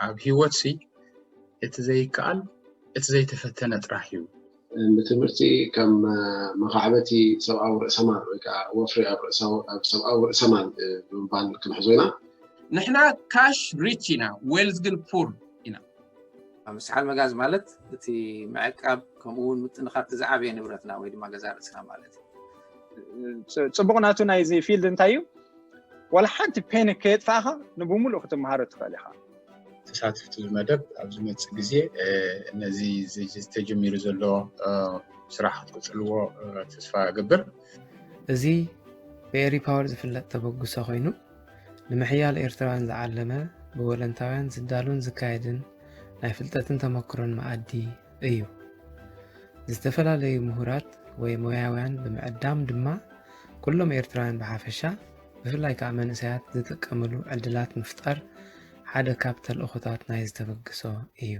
ኣብ ሂወት ሲ እቲ ዘይከኣል እቲ ዘይተፈተነ ጥራሕ እዩ። ብትምህርቲ ከም መኻዕበቲ ሰብኣዊ ርእሰማል ወይ ከኣ ወፍሪ ኣብ ሰብኣዊ ርእሰማል ብምባል ክንሕዞ ኢና። ንሕና ካሽ ሪች ኢና ዌልዝ ግን ፑር ኢና። ምስሓል መጋዝ ማለት እቲ ምዕቃብ ከምኡ ውን ምጥንኻር እቲ ዝዓበየ ንብረትና ወይ ድማ ገዛ ርእስና ማለት እዩ። ጽቡቕ ናቱ ናይዚ ፊልድ እንታይ እዩ? ዋላ ሓንቲ ፔን ከየጥፋእኻ ንብምሉእ ክትመሃሮ ትኽእል ኢኻ ተሳትፍቲ መደብ ኣብ ዝመፅእ ግዜ ነዚ ዝተጀሚሩ ዘሎ ስራሕ ክትቅፅልዎ ተስፋ እገብር እዚ ብኤሪ ፓወር ዝፍለጥ ተበግሶ ኮይኑ ንምሕያል ኤርትራውያን ዝዓለመ ብወለንታውያን ዝዳሉን ዝካየድን ናይ ፍልጠትን ተመክሮን መኣዲ እዩ። ዝተፈላለዩ ምሁራት ወይ ሞያውያን ብምዕዳም ድማ ኩሎም ኤርትራውያን ብሓፈሻ ብፍላይ ከዓ መንእሰያት ዝጥቀምሉ ዕድላት ምፍጣር ሓደ ካብ ተልእኾታት ናይ ዝተበግሶ እዩ።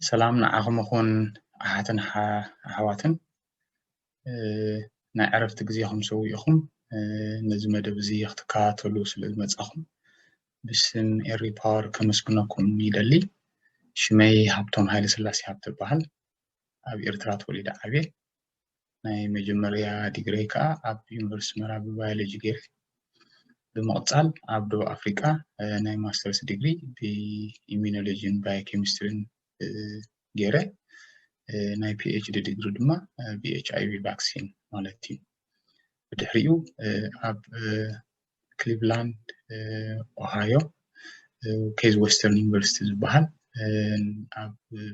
ሰላም ንዓኹም ይኹን ኣሓትን ኣሕዋትን ናይ ዕረፍቲ ግዜኹም ሰዊእኹም ነዚ መደብ እዚ ክትከታተሉ ስለ ዝመጻኹም ብስም ኤሪ ፓወር ከመስግነኩም ይደሊ። ሽመይ ሃብቶም ሃይለ ስላሴ ሃብተ በሃል ኣብ ኤርትራ ተወሊደ ዓብየ ናይ መጀመርያ ዲግረይ ከዓ ኣብ ዩኒቨርስቲ ኣስመራ ብባዮሎጂ ገይረ ብምቕጻል ኣብ ደቡብ ኣፍሪቃ ናይ ማስተርስ ዲግሪ ብኢሚኖሎጂን ባዮኬሚስትሪን ገይረ ናይ ፒኤችዲ ዲግሪ ድማ ብኤችኣይቪ ቫክሲን ማለት እዩ ብድሕሪኡ ኣብ ክሊቭላንድ ኦሃዮ ኬዝ ዌስተርን ዩኒቨርሲቲ ዝበሃል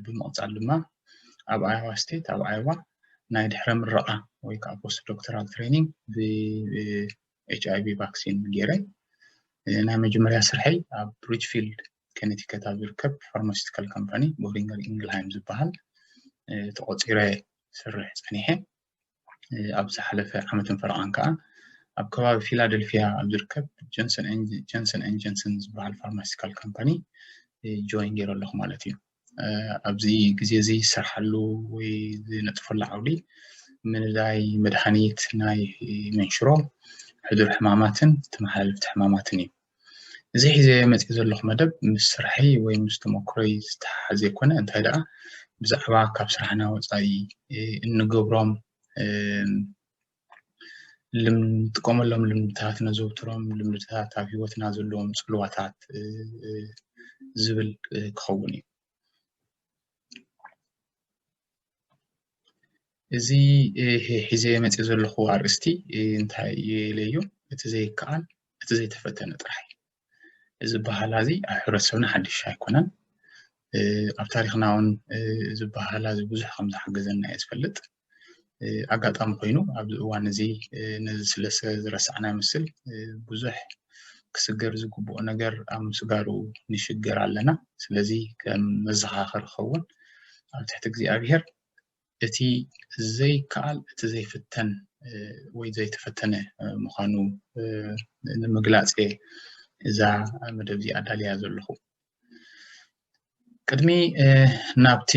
ብምቕፃል ድማ ኣብ ኣየዋ ስቴት ኣብ ኣየዋ ናይ ድሕረ ምረቓ ወይ ከዓ ፖስት ዶክተራል ትሬኒንግ ኤች ኣይቪ ቫክሲን ገይረ ናይ መጀመርያ ስርሐይ ኣብ ሪችፊልድ ከነቲከት ኣብ ዝርከብ ፋርማሲቲካል ካምፓኒ ቦሪንገር ኢንግልሃይም ዝበሃል ተቆፂረ ስርሕ ፀኒሐ ኣብ ዝሓለፈ ዓመትን ፈረቓን ከዓ ኣብ ከባቢ ፊላደልፊያ ኣብ ዝርከብ ጆንሰን ን ጆንሰን ዝበሃል ፋርማሲቲካል ካምፓኒ ጆይን ገይረ ኣለኹ ማለት እዩ ኣብዚ ግዜ እዚ ዝሰርሓሉ ወይ ዝነጥፈሉ ዓውዲ ምልላይ መድሃኒት ናይ መንሽሮ ሕዱር ሕማማትን ተመሓላለፍቲ ሕማማትን እዩ። እዚ ሒዘ መጺእ ዘለኹ መደብ ምስ ስራሕይ ወይ ምስ ተመክሮይ ዝተሓሓዝ ዘይኮነ እንታይ ደኣ ብዛዕባ ካብ ስራሕና ወጻኢ እንገብሮም እንጥቀመሎም ልምድታት እነዘውትሮም ልምድታት ኣብ ሂወትና ዘለዎም ፅልዋታት ዝብል ክኸውን እዩ፡፡ እዚ ሒዘዮ መፂአ ዘለኩ ኣርእስቲ እንታይ ኢለዮ እቲ ዘይከኣል እቲ ዘይተፈተነ ጥራሕ እዩ፡፡ እዚ ኣበሃህላ እዚ ኣብ ሕብረተሰብና ሓዱሽ ኣይኮነን። ኣብ ታሪኽና እውን እዚ ኣበሃህላ እዚ ብዙሕ ከም ዝሓገዘና እየ ዝፈልጥ። ኣጋጣሚ ኮይኑ ኣብዚ እዋን እዚ ነዚ ስለ ዝረሳዕና ይመስል ብዙሕ ክስገር ዝግብኦ ነገር ኣብ ምስጋሩ ንሽገር ኣለና። ስለዚ ከም መዘኻኸሪ ክኸውን ኣብ ትሕቲ እግዚኣብሄር እቲ ዘይከኣል እቲ ዘይፍተን ወይ ዘይተፈተነ ምዃኑ ንምግላጽ እየ እዛ መደብ እዚኣ ኣዳልያ ዘለኹ። ቅድሚ ናብቲ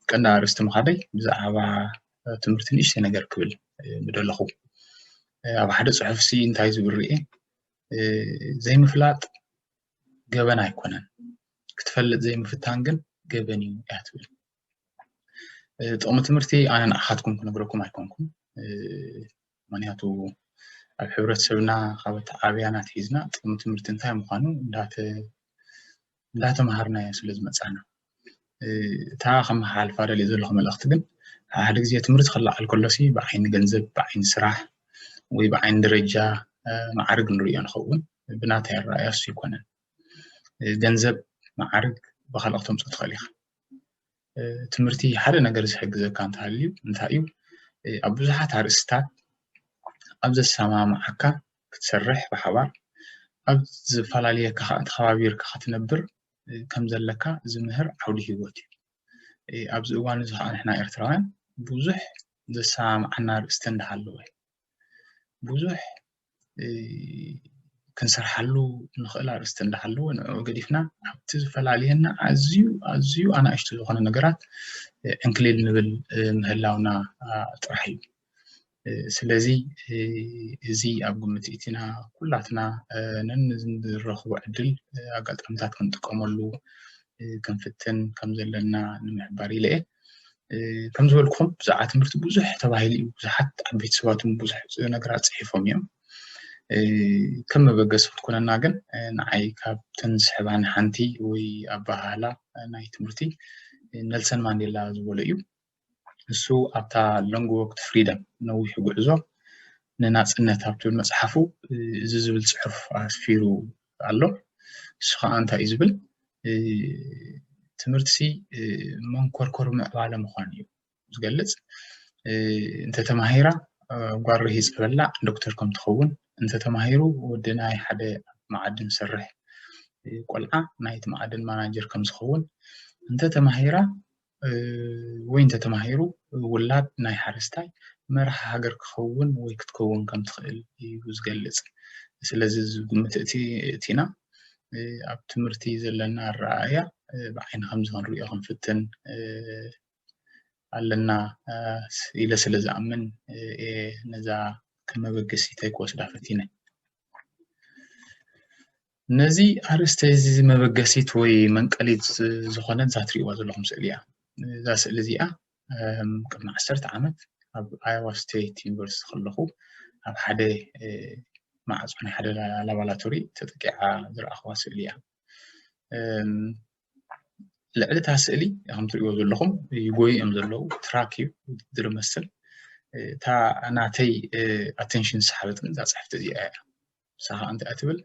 ቀንዲ ኣርእስቲ ምኻደይ ብዛዕባ ትምህርቲ ንእሽተይ ነገር ክብል ምደለኹ። ኣብ ሓደ ጽሑፍሲ እንታይ ዝብል ርኤ ዘይምፍላጥ ገበን ኣይኮነን ክትፈልጥ ዘይምፍታን ግን ገበን እዩ እያ ትብል ጥቕሚ ትምህርቲ ኣነ ንዓኻትኩም ክነግረኩም ኣይኮንኩም ምክንያቱ ኣብ ሕብረተሰብና ካብ ኣተዓብያና ኣትሒዝና ጥቕሚ ትምህርቲ እንታይ ምዃኑ እንዳተምሃርናዮ ስለ ዝመፃና እታ ከመሓላልፋ ደልየ ዘለኹ መልእኽቲ ግን ሓደ ግዜ ትምህርቲ ክለዓል ከሎሲ ብዓይኒ ገንዘብ ብዓይኒ ስራሕ ወይ ብዓይኒ ደረጃ ማዕርግ ንርእዮ ንኸውን ብናተይ ኣረኣእያ እሱ ኣይኮነን ገንዘብ ማዕርግ ብካልኦት ተምፅኦ ትኽእል ኢኻ ትምህርቲ ሓደ ነገር ዝሕግዘካ እንተሃልዩ እንታይ እዩ ኣብ ብዙሓት ኣርእስትታት ኣብ ዘሰማምዓካ ክትሰርሕ ብሓባር ኣብ ዝፈላልየካ ኸኣ ተኸባቢርካ ክትነብር ከም ዘለካ ዝምህር ዓውዲ ሂወት እዩ። ኣብዚ እዋን እዚ ኸኣ ንሕና ኤርትራውያን ብዙሕ ዘሰማምዓና ኣርእስቲ እንዳ ሃለወ ብዙሕ ክንሰርሓሉ ንኽእል ኣርእስቲ እንዳሃለወ ንዕዑ ገዲፍና ኣብቲ ዝፈላልየና ኣዝዩ ኣዝዩ ኣናእሽቱ ዝኾነ ነገራት ዕንክሊል ንብል ምህላውና ጥራሕ እዩ ስለዚ እዚ ኣብ ግምት እቲና ኩላትና ነንዝረኽቦ ዕድል ኣጋጣሚታት ክንጥቀመሉ ክንፍትን ከም ዘለና ንምሕባር ኢለ እየ ከም ዝበልኩኹም ብዛዕባ ትምህርቲ ብዙሕ ተባሂሉ እዩ ብዙሓት ዓበይቲ ሰባት እውን ብዙሕ ነገራት ፅሒፎም እዮም ከም መበገሲ ክትኮነና ግን ንዓይ ካብተን ዝስሕባኒ ሓንቲ ወይ ኣበሃህላ ናይ ትምህርቲ ነልሰን ማንዴላ ዝበሎ እዩ ንሱ ኣብታ ሎንግ ወክ ቱ ፍሪደም ነዊሕ ጉዕዞ ንናፅነት ኣብ ትብል መፅሓፉ እዚ ዝብል ፅሑፍ ኣስፊሩ ኣሎ ንሱ ከዓ እንታይ እዩ ዝብል ትምህርቲ መንኮርኮር ምዕባለ ምኳኑ እዩ ዝገልፅ እንተተማሂራ ጓል ርሂፅ በላ ዶክተር ከም ትኸውን እንተተማሂሩ ወዲ ናይ ሓደ መዓድን ዝሰርሕ ቆልዓ ናይቲ መዓድን ማናጀር ከም ዝኸውን እንተተማሂራ ወይ እንተተማሂሩ ውላድ ናይ ሓረስታይ መራሒ ሃገር ክኸውን ወይ ክትከውን ከም ትኽእል እዩ ዝገልጽ። ስለዚ እዚ ግምት እቲ እቲና ኣብ ትምህርቲ ዘለና ኣረኣእያ ብዓይኒ ከምዚ ክንሪኦ ክንፍትን ኣለና ኢለ ስለ ዝኣምን እየ ነዛ ከም መበገሲተይ ክወስዳ ፈቲነ። ነዚ ኣርእስቲ እዚ መበገሲት ወይ መንቀሊት ዝኾነት እዛ ትሪእዋ ዘለኹም ስእሊ እያ። እዛ ስእሊ እዚኣ ቅድሚ ዓሰርተ ዓመት ኣብ ኣዮዋ ስቴት ዩኒቨርሲቲ ከለኹ ኣብ ሓደ ማዕፆ ናይ ሓደ ላባላቶሪ ተጠቂዓ ዝረኣኽዋ ስእሊ እያ። ልዕሊ እታ ስእሊ ከም ትሪእዎ ዘለኹም ይጎዩ እዮም ዘለዉ ትራክ እዩ ዝመስል እታ ናተይ ኣቴንሽን ዝሰሓበት ግን እዛ ፅሕፍቲ እዚኣ እያ። ምሳኻ እንተ ትብል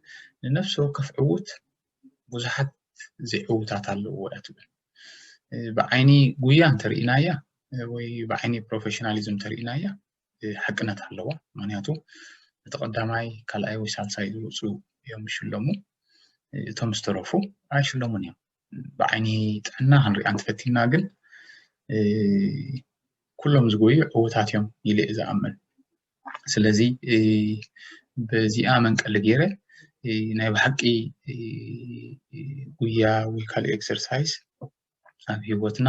ንነፍሲ ወከፍ ዕዉት ብዙሓት ዘይዕዉታት ኣለዎ እያ ትብል ብዓይኒ ጉያ እንተርኢናያ ወይ ብዓይኒ ፕሮፌሽናሊዝም እንተርኢናያ ሓቅነት ኣለዋ ምክንያቱ እቲ ቀዳማይ ካልኣይ ወይ ሳልሳይ ዝወፁ እዮም ዝሽለሙ እቶም ዝተረፉ ኣይሽለሙን እዮም ብዓይኒ ጥዕና ክንሪኣ እንተፈቲና ግን ኩሎም ዝጎዩ ዕውታት እዮም ኢለ እየ ዝኣምን ስለዚ በዚኣ መንቀሊ ገይረ ናይ ብሓቂ ጉያ ወይ ካልእ ኤክሰርሳይዝ ኣብ ሂወትና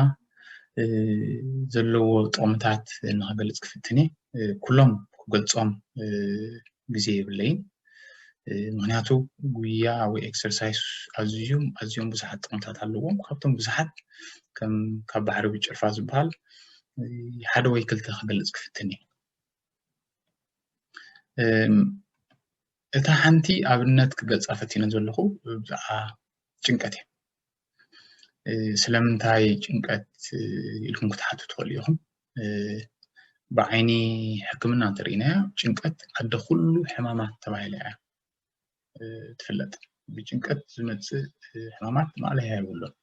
ዘለዎ ጥቕምታት ንክገልፅ ክፍትን እየ ኩሎም ክገልፆም ግዜ የብለይን ምክንያቱ ጉያ ወይ ኤክሰርሳይስ ኣዝዮም ኣዝዮም ብዙሓት ጥቕምታት ኣለዎም ካብቶም ብዙሓት ከም ካብ ባሕሪ ብጭልፋ ዝበሃል ሓደ ወይ ክልተ ክገልፅ ክፍትን እዩ እታ ሓንቲ ኣብነት ክገልፃ ፈቲነ ዘለኹ ብዛዕባ ጭንቀት እዩ ስለምንታይ ጭንቀት ኢልኩም ክትሓቱ ትኽእሉ ኢኹም ብዓይኒ ሕክምና እንተሪእናዮ ጭንቀት ኣደ ኩሉ ሕማማት ተባሂላ እያ ትፍለጥ ብጭንቀት ዝመፅእ ሕማማት ማእለያ የብሉን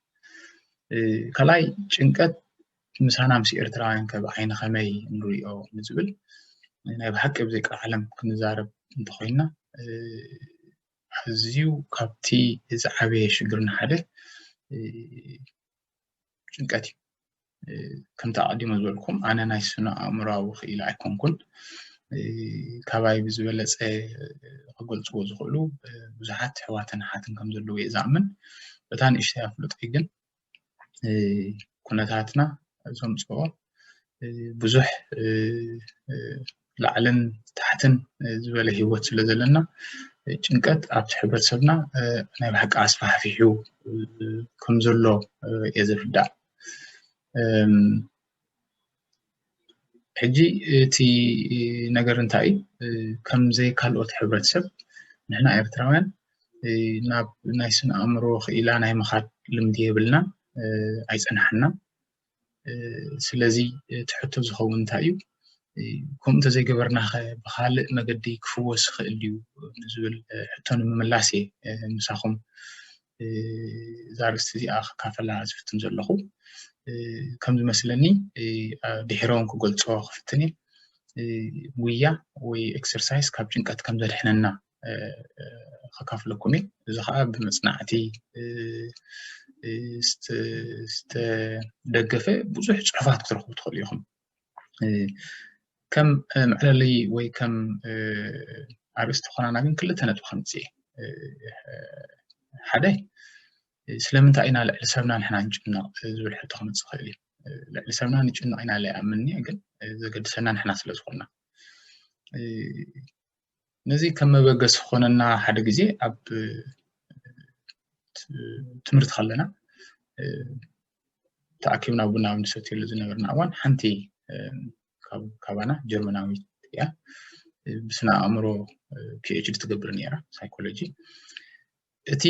ካልኣይ ጭንቀት ምሳና ምስ ኤርትራውያን ከ ብዓይኒ ከመይ ንሪኦ ንዝብል ናይ ብሓቂ ብዘይ ቃል ዓለም ክንዛረብ እንተኮይንና ኣዝዩ ካብቲ ዝዓበየ ሽግርና ሓደ ጭንቀት እዩ። ከምቲ ኣቐዲመ ዝበልኩም ኣነ ናይ ስነ ኣእምሮኣዊ ክኢላ ኣይኮንኩን። ካባይ ብዝበለፀ ክገልፅዎ ዝኽእሉ ብዙሓት ኣሕዋትን ኣሓትን ከም ዘለዉ እየ ዝኣምን። በታ ንእሽተይ ኣፍልጦይ ግን ኩነታትና ዘምፅኦ ብዙሕ ላዕልን ታሕትን ዝበለ ሂወት ስለ ዘለና ጭንቀት ኣብቲ ሕብረተሰብና ናይ ብሓቂ ኣስፋሕፊሑ ከም ዘሎ እየ ዝርዳእ። ሕጂ እቲ ነገር እንታይ እዩ ከምዘይ ካልኦት ሕብረተሰብ ንሕና ኤርትራውያን ናብ ናይ ስነ ኣእምሮ ክኢላ ናይ ምኻድ ልምዲ የብልናን ኣይጸናሓናን ስለዚ እቲ ሕቶ ዝከውን እንታይ እዩ ከምኡ እንተዘይገበርና ከ ብካልእ መገዲ ክፍወስ ይክእል ድዩ ንዝብል ሕቶ ንምምላስ እየ ምሳኩም እዛ ኣርእስቲ እዚኣ ክካፈላ ዝፍትን ዘለኹ ከም ዝመስለኒ ድሒረውን ክገልፆ ክፍትን እየ ጉያ ወይ ኤክሰርሳይዝ ካብ ጭንቀት ከም ዘድሕነና ከካፍለኩም እየ እዚ ከዓ ብመፅናዕቲ ዝተደገፈ ብዙሕ ፅሑፋት ክትረኽቡ ትኽእሉ ኢኹም ከም መዕለሊ ወይ ከም ኣርእስቲ ኮናና ግን ክልተ ነጥቢ ከምፅእ ሓደ ስለምንታይ ኢና ልዕሊ ሰብና ንሕና ንጭነቕ ዝብል ሕቶ ክመፅእ ይኽእል እዩ ልዕሊ ሰብና ንጭነቕ ኢና ለይኣምንኒ ግን ዘገድሰና ንሕና ስለ ዝኾንና ነዚ ከም መበገሲ ክኾነና ሓደ ግዜ ኣብ ትምህርቲ ከለና ተኣኪብና ቡና ኣብ ንሰትየሉ ዝነበርና እዋን ሓንቲ ካባና ጀርመናዊት እያ ብስነ ኣእምሮ ፒኤችዲ ትገብር ነይራ ሳይኮሎጂ እቲ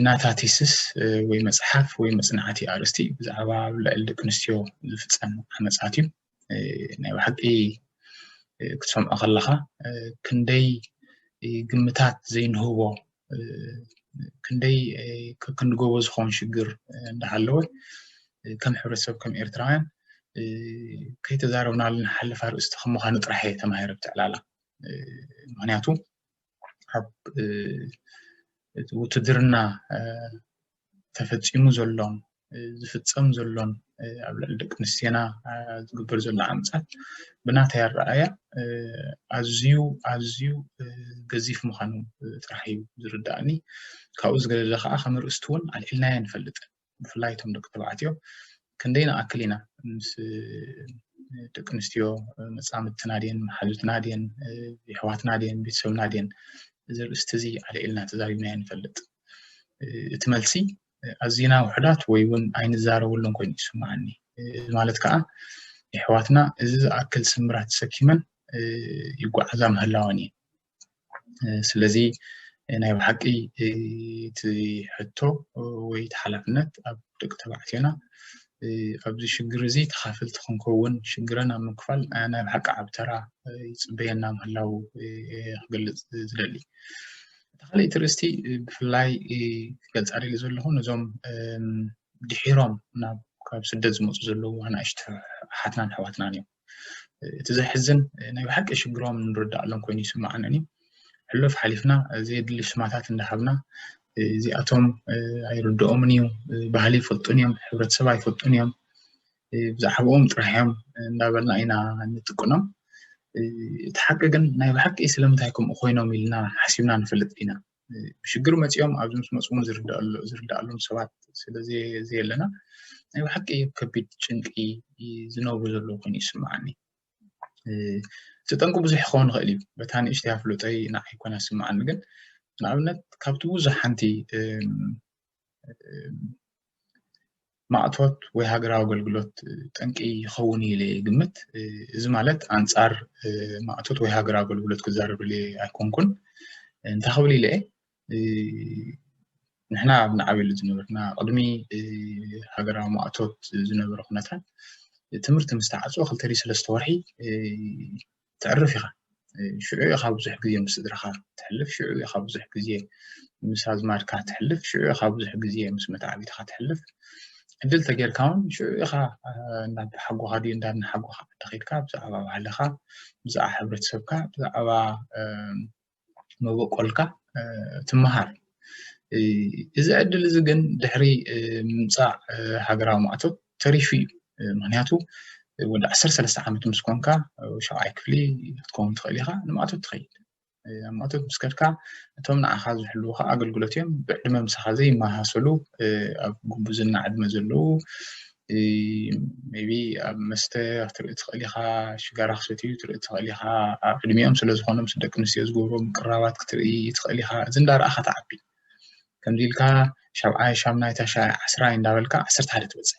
ናታ ቲስስ ወይ መጽሓፍ ወይ መጽናዕቲ ኣርእስቲ ብዛዕባ ልዕሊ ደቂ ኣንስትዮ ዝፍጸም ዓመጻት እዩ ናይ ብሓቂ ክትሰምዖ ከለኻ ክንደይ ግምታት ዘይንህቦ ክንደይ ክንጎቦ ዝኸውን ሽግር እንዳሃለወ ከም ሕብረተሰብ ከም ኤርትራውያን ከይተዛረብናሉ ንሓልፍ ኣርእስቲ ከም ምዃኑ ጥራሕ እየ ተማሂረ ብትዕላላ ምክንያቱ ኣብ እቲ ውትድርና ተፈፂሙ ዘሎን ዝፍፀም ዘሎን ኣብ ልዕሊ ደቂ ኣንስትዮና ዝግበር ዘሎ ዓመፃት ብናተይ ኣረኣእያ ኣዝዩ ኣዝዩ ገዚፍ ምዃኑ ጥራሕ እዩ ዝርዳእኒ ካብኡ ዝገደደ ከዓ ከም ኣርእስቲ እውን ኣልዒልናዮ ንፈልጥን ብፍላይ እቶም ደቂ ተባዕትዮ ክንደይ ንኣክል ኢና ምስ ደቂ ኣንስትዮ መፃምድትና ድየን መሓዙትና ድየን የሕዋትና ድየን ቤተሰብና ድየን እዚ ርእስቲ እዚ ኣልዒልና ተዛሪብናዮ ንፈልጥ እቲ መልሲ ኣዝና ውሕዳት ወይ እውን ኣይንዛረበሉን ኮይኑ ይስምዓኒ እዚ ማለት ከዓ የሕዋትና እዚ ዝኣክል ስምራት ተሰኪመን ይጓዓዛ ምህላወን እዩ ስለዚ ናይ ብሓቂ እቲ ሕቶ ወይ እቲ ሓላፍነት ኣብ ደቂ ተባዕትዮና ኣብዚ ሽግር እዚ ተኻፈልቲ ክንከውን ሽግረን ኣብ ምክፋል ናይ ብሓቂ ዓብ ተራ ይፅበየና ምህላው ክገልፅ ዝደሊ እቲ ካልእ እቲ ርእስቲ ብፍላይ ክገልፃ ደሊ ዘለኹ ነዞም ድሒሮም ናብ ካብ ስደት ዝመፁ ዘለዉ ኣናእሽቲ ሓትናን ኣሕዋትናን እዮም እቲ ዘሕዝን ናይ ብሓቂ ሽግሮም ንርዳእሎም ኮይኑ ይስምዓንኒ ሕሉፍ ሓሊፍና ዘየድሊ ሽማታት እንዳሃብና እዚኣቶም ኣይርድኦምን እዩ ባህሊ ይፈልጡን እዮም ሕብረተሰብ ኣይፈልጡን እዮም ብዛዕባኦም ጥራሕ እዮም እንዳበልና ኢና ንጥቅኖም እቲ ሓቂ ግን ናይ ብሓቂ ስለምንታይ ከምኡ ኮይኖም ኢልና ሓሲብና ንፈልጥ ኢና ብሽግር መፂኦም ኣብዚ ምስ መፁ እውን ዝርደኣሎም ሰባት ስለ ዘየለና ናይ ብሓቂ ኣብ ከቢድ ጭንቂ ዝነብሩ ዘለዉ ኮይኑ ይስምዓኒ። እቲ ጠንቂ ብዙሕ ክኸውን ይኽእል እዩ። በታ ንእሽተይ ኣፍልጦይ ንዓይ ኮና ዝስምዓኒ ግን ንኣብነት ካብቲ ብዙሕ ሓንቲ ማእቶት ወይ ሃገራዊ ኣገልግሎት ጠንቂ ይኸውን ኢለ ግምት እዚ ማለት ኣንጻር ማእቶት ወይ ሃገራዊ ኣገልግሎት ክዛረብ ኢለ ኣይኮንኩን እንታይ ክብል ኢለ ንሕና ኣብ ንዓብየሉ ዝነበርና ቅድሚ ሃገራዊ ማእቶት ዝነበረ ኩነታት ትምህርቲ ምስ ተዓፅኦ ክልተ ሰለስተ ወርሒ ተዕርፍ ኢኻ ሽዑ ኢኻ ብዙሕ ግዜ ምስ ስድራኻ ተሕልፍ ሽዑ ኢኻ ብዙሕ ግዜ ምስ ኣዝማድካ ተሕልፍ ሽዑ ኢኻ ብዙሕ ግዜ ምስ መታዕቢትኻ ተሕልፍ ዕድል ተጌርካ እውን ሽዑ ኢኻ ናብ ሓጎኻ ድዩ እንዳ ሓጎኻ ዓዲ ኸይድካ ብዛዕባ ባህልኻ ብዛዕባ ሕብረተሰብካ ብዛዕባ መበቆልካ ትመሃር እዚ ዕድል እዚ ግን ድሕሪ ምምፃእ ሃገራዊ ማእቶት ተሪፉ እዩ ምክንያቱ ወዲ ዓሰርተ ሰለስተ ዓመት ምስ ኮንካ ሸውዓይ ክፍሊ ክትከውን ትኽእል ኢኻ ንማእቶት ትኸይድ ኣብ ማእቶት ምስ ከድካ እቶም ንዓኻ ዝሕልዉካ ኣገልግሎት እዮም ብዕድመ ምሳኻ ዘይመሳሰሉ ኣብ ጉቡዝና ዕድመ ዘለዉ ሜይቢ ኣብ መስተ ክትርኢ ትኽእል ኢኻ፣ ሽጋራ ክሰትዩ ክትርኢ ትኽእል ኢኻ፣ ኣብ ዕድሚኦም ስለ ዝኾኑ ምስ ደቂ ኣንስትዮ ዝገብርዎ ምቅርራባት ክትርኢ ትኽእል ኢኻ፣ እዚ እንዳረኣኻ ትዓቢ ከምዚ ኢልካ ሻብዓይ ሻምናይ ታሽዓይ ዓስራይ እንዳበልካ ዓሰርተ ሓደ ትበጽሕ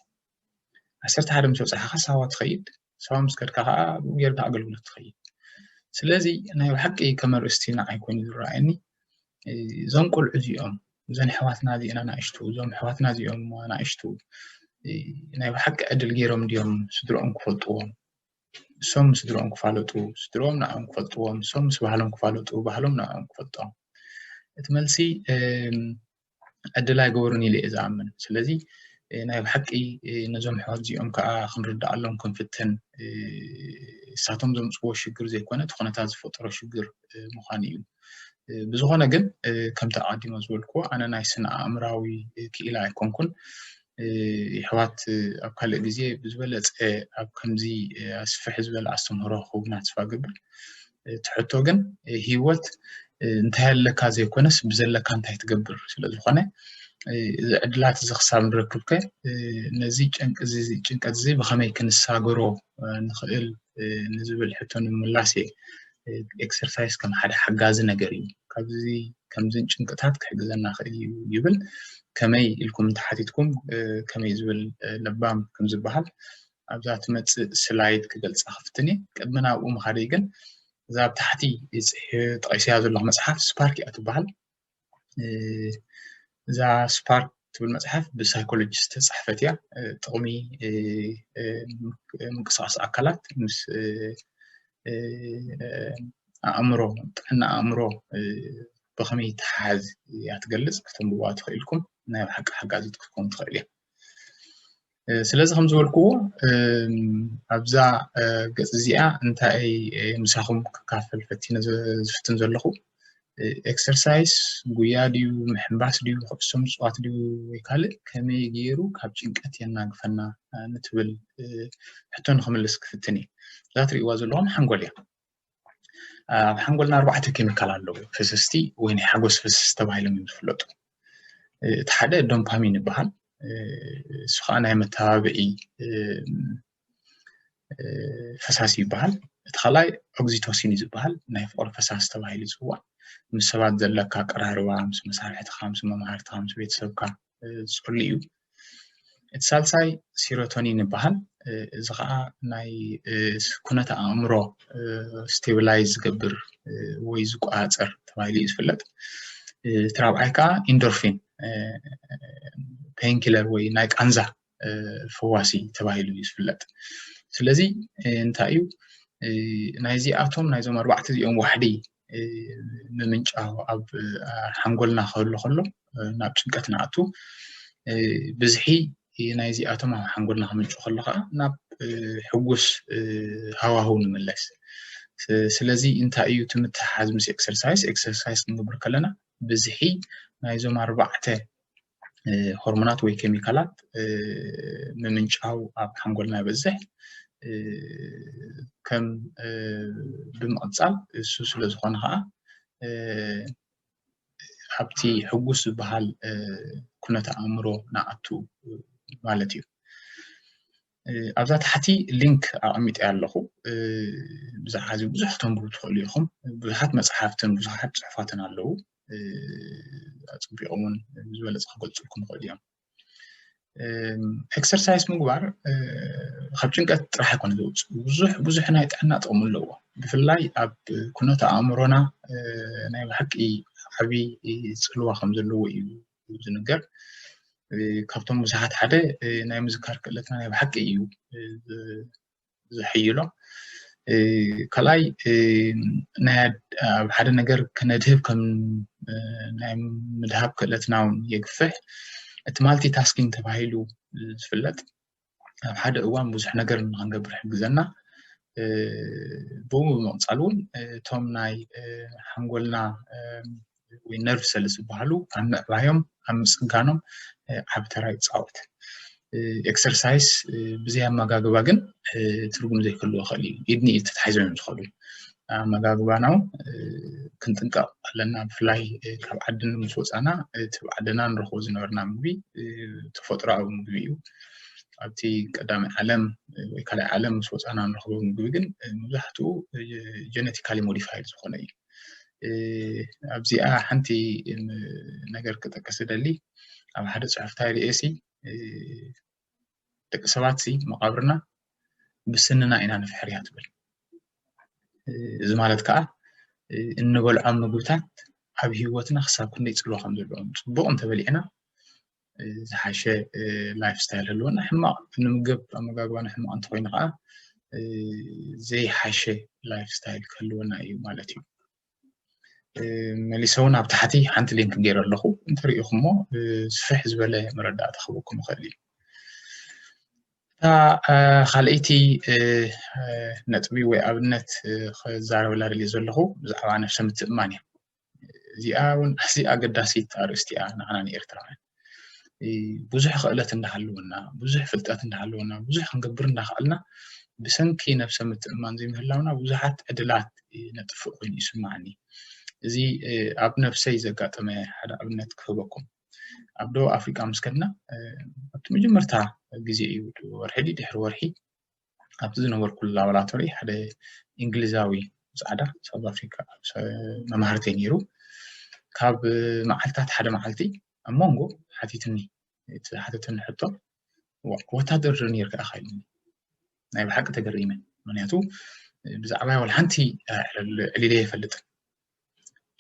ዓሰርተ ሓደ ምስ በጻሕካ ሳዋ ትኸይድ ሰባ ምስ ከድካ ከኣ ኣብኡ ጌርካ ኣገልግሎት ትኸይድ ስለዚ ናይ ብሓቂ ከም ኣርእስቲ ንዓይ ኮይኑ ዝረኣየኒ እዞም ቆልዑ እዚኦም እዘን ኣሕዋትና እዚአን ኣናእሽቱ እዞም ኣሕዋትና እዚኦም ኣናእሽቱ ናይ ብሓቂ ዕድል ገይሮም ድዮም ስድሮኦም ክፈልጥዎም እሶም ምስድሮኦም ክፋለጡ ስድሮኦም ንዕኦም ክፈልጥዎም እሶም ምስ ባህሎም ክፋለጡ ባህሎም ንዕኦም ክፈልጦም እቲ መልሲ ዕድል ኣይገበሩን ኢለ እየ ዝኣምን ስለዚ ናይ ብሓቂ ነዞም ሕወት እዚኦም ከዓ ክንርዳኣሎም ክንፍትን እሳቶም ዘምፅዎ ሽግር ዘይኮነ እቲ ኩነታት ዝፈጠሮ ሽግር ምዃኑ እዩ ብዝኾነ ግን ከምቲ ኣቐዲሞ ዝበልኩዎ ኣነ ናይ ስነ ኣእምራዊ ክኢላ ኣይኮንኩን የሕዋት ኣብ ካልእ ግዜ ብዝበለጸ ኣብ ከምዚ ኣስፍሕ ዝበለ ኣስተምህሮ ክህቡና ተስፋ እገብር እቲ ሕቶ ግን ሂወት እንታይ ኣለካ ዘይኮነስ ብዘለካ እንታይ ትገብር ስለ ዝኾነ እዚ ዕድላት እዚ ክሳብ ንረክብከ ነዚ ጭንቀት እዚ ብኸመይ ክንሳገሮ ንኽእል ንዝብል ሕቶ ንምምላስ እየ ኤክሰርሳይዝ ከም ሓደ ሓጋዚ ነገር እዩ ካብዚ ከምዝን ጭንቅታት ክሕግዘና ክእል እዩ ይብል ከመይ ኢልኩም እንተሓቲትኩም ከመይ ዝብል ለባም ከም ዝበሃል ኣብዛ ትመፅእ ስላይድ ክገልፃ ክፍትን እየ ቅድሚ ናብኡ ምኻደይ ግን እዛ ኣብ ታሕቲ ፅሒ ጠቂሰያ ዘለኹ መፅሓፍ ስፓርክ እያ ትበሃል እዛ ስፓርክ ትብል መፅሓፍ ብሳይኮሎጂ ዝተፃሕፈት እያ። ጥቅሚ ምንቅስቃስ ኣካላት ምስ ኣእምሮ ጥዕና ኣእምሮ ብከመይ ይተሓሓዝ እያ ትገልፅ። ከተንብቡዋ ትክእሉ ኢኩም። ናይ ብሓቂ ሓጋዚት ክትከውን ትክእል እያ። ስለዚ ከም ዝበልክዎ ኣብዛ ገፅ እዚኣ እንታይ ምሳኹም ክካፈል ፈቲነ ዝፍትን ዘለኹ ኤክሰርሳይስ ጉያ ድዩ ምሕንባስ ድዩ ኩዕሶ ምፅዋት ድዩ ወይ ካልእ ከመይ ገይሩ ካብ ጭንቀት የናግፈና ንትብል ሕቶ ንክምልስ ክፍትን እዩ እዛ ትሪእዋ ዘለኹም ሓንጎል እያ ኣብ ሓንጎልና ኣርባዕተ ኬሚካል ኣለዉ ፍስስቲ ወይ ናይ ሓጎስ ፍስስቲ ተባሂሎም እዮም ዝፍለጡ እቲ ሓደ ዶምፓሚን ይበሃል እሱ ከዓ ናይ መተባብዒ ፈሳሲ ይበሃል እቲ ካልኣይ ኦግዚቶሲን እዩ ዝበሃል ናይ ፍቅሪ ፈሳሲ ተባሂሉ ይፅዋዕ ምስ ሰባት ዘለካ ቀራርባ ምስ መሳርሕትካ ምስ መምሃርትካ ምስ ቤተሰብካ ዝፍሉ እዩ እቲ ሳልሳይ ሲሮቶኒን ይበሃል እዚ ከዓ ናይ ኩነተ ኣእምሮ ስቴብላይዝ ዝገብር ወይ ዝቆፃፀር ተባሂሉ እዩ ዝፍለጥ እቲ ራብዓይ ከዓ ኢንዶርፊን ፔንኪለር ወይ ናይ ቃንዛ ፈዋሲ ተባሂሉ እዩ ዝፍለጥ ስለዚ እንታይ እዩ ናይዚኣቶም ናይዞም ኣርባዕተ እዚኦም ዋሕዲ ምምንጫው ኣብ ሓንጎልና ክህሉ ከሎ ናብ ጭንቀት ንኣቱ ብዝሒ ናይዚኣቶም ኣብ ሓንጎልና ክምንጩ ከሎ ከዓ ናብ ሕጉስ ሃዋህው ንምለስ ስለዚ እንታይ እዩ ትምትሓዝ ምስ ኤክሰርሳይስ ኤክሰርሳይስ ክንገብር ከለና ብዝሒ ናይዞም ኣርባዕተ ሆርሞናት ወይ ኬሚካላት ምምንጫው ኣብ ሓንጎልና ይበዝሕ ከም ብምቕፃል እሱ ስለ ዝኾነ ከዓ ኣብቲ ሕጉስ ዝበሃል ኩነተ ኣእምሮ ንኣቱ ማለት እዩ ኣብዛ ታሕቲ ሊንክ ኣቐሚጠ ኣለኹ ብዛዕባ እዚ ብዙሕ ተንብቡ ትኽእሉ ኢኹም ብዙሓት መፅሓፍትን ብዙሓት ፅሑፋትን ኣለዉ ኣፅቢቆም እውን ዝበለፀ ክገልፅልኩም ይኽእሉ እዮም ኤክሰርሳይዝ ምግባር ካብ ጭንቀት ጥራሕ ኣይኮነ ዘውፅእ ብዙሕ ብዙሕ ናይ ጥዕና ጥቕሚ ኣለዎ ብፍላይ ኣብ ኩነት ኣእምሮና ናይ ብሓቂ ዓብዪ ፅልዋ ከም ዘለዎ እዩ ዝንገር ካብቶም ብዙሓት ሓደ ናይ ምዝካር ክእለትና ናይ ብሓቂ እዩ ዝሕይሎ ካልኣይ ናይ ኣብ ሓደ ነገር ክነድህብ ከም ናይ ምድሃብ ክእለትና እውን የግፍሕ እቲ ማልቲ ታስኪንግ ተባሂሉ ዝፍለጥ ኣብ ሓደ እዋን ብዙሕ ነገር ንክንገብር ይሕግዘና ብኡ ብምቕፃል እውን እቶም ናይ ሓንጎልና ወይ ነርቭ ሰልስ ዝበሃሉ ኣብ ምዕባዮም ኣብ ምፅጋኖም ዓብ ተራ ይፃወት ኤክሰርሳይስ ብዘይ ኣመጋግባ ግን ትርጉም ዘይክልዎ ይኽእል እዩ ኢድኒ ኢድ ተታሒዞም እዮም ዝኸዱ ኣመጋግባና እውን ክንጥንቀቕ ኣለና ብፍላይ ካብ ዓድን ምስ ወፃና እቲ ብዓድና ንረኽቦ ዝነበርና ምግቢ ተፈጥሮኣዊ ምግቢ እዩ ኣብቲ ቀዳሚ ዓለም ወይ ካልኣይ ዓለም ምስ ወፃና ንረኽቦ ምግቢ ግን መብዛሕትኡ ጀነቲካሊ ሞዲፋይድ ዝኾነ እዩ ኣብዚኣ ሓንቲ ነገር ክጠቅስ ደሊ ኣብ ሓደ ፅሑፍታ ርእሲ ደቂ ሰባት ሲ መቃብርና ብስንና ኢና ንፍሕርያ ትብል እዚ ማለት ከዓ እንበልዖም ምግብታት ኣብ ሂወትና ክሳብ ክንደይ ፅልዋ ከም ዘለዎም ፅቡቅ እንተበሊዕና ዝሓሸ ላይፍ ስታይል ህልወና ሕማቕ ንምገብ ኣመጋግባና ሕማቕ እንተኮይኑ ከዓ ዘይሓሸ ላይፍ ስታይል ክህልወና እዩ ማለት እዩ መሊሰ እውን ኣብ ታሕቲ ሓንቲ ሊንክ ገይረ ኣለኹ እንተሪኢኹሞ ስፍሕ ዝበለ መረዳእታ ክህበኩም ይኽእል እዩ እታ ካልኣይቲ ነጥቢ ወይ ኣብነት ክዛረበላ ደልየ ዘለኹ ብዛዕባ ነብሰ ምትእማን እዩ እዚኣ እውን ኣዝያ ኣገዳሲት ኣርእስቲ እያ ንዓና ንኤርትራውያን ብዙሕ ክእለት እንዳሃለወና ብዙሕ ፍልጠት እንዳሃለወና ብዙሕ ክንገብር እንዳኸኣልና ብሰንኪ ነብሰ ምትእማን ዘይምህላውና ብዙሓት ዕድላት ነጥፍእ ኮይኑ ይስማዓኒ እዚ ኣብ ነብሰይ ዘጋጠመ ሓደ ኣብነት ክህበኩም ኣብ ደቡብ ኣፍሪቃ ምስ ከድና ኣብቲ መጀመርታ ግዜ እዩ ወርሒ ድሕሪ ወርሒ ኣብቲ ዝነበርኩሉ ላቦራቶሪ ሓደ እንግሊዛዊ ፃዕዳ ሳውዝ ኣፍሪካ መማህርቲ ነይሩ ካብ መዓልትታት ሓደ መዓልቲ ኣብ መንጎ ሓቲትኒ እቲ ሓተትኒ ሕቶ ወታደር ኔርካ ኢኻ ኢሉኒ ናይ ብሓቂ ተገሪመ ምክንያቱ ብዛዕባ ወላ ሓንቲ ዕሊለ የፈልጥን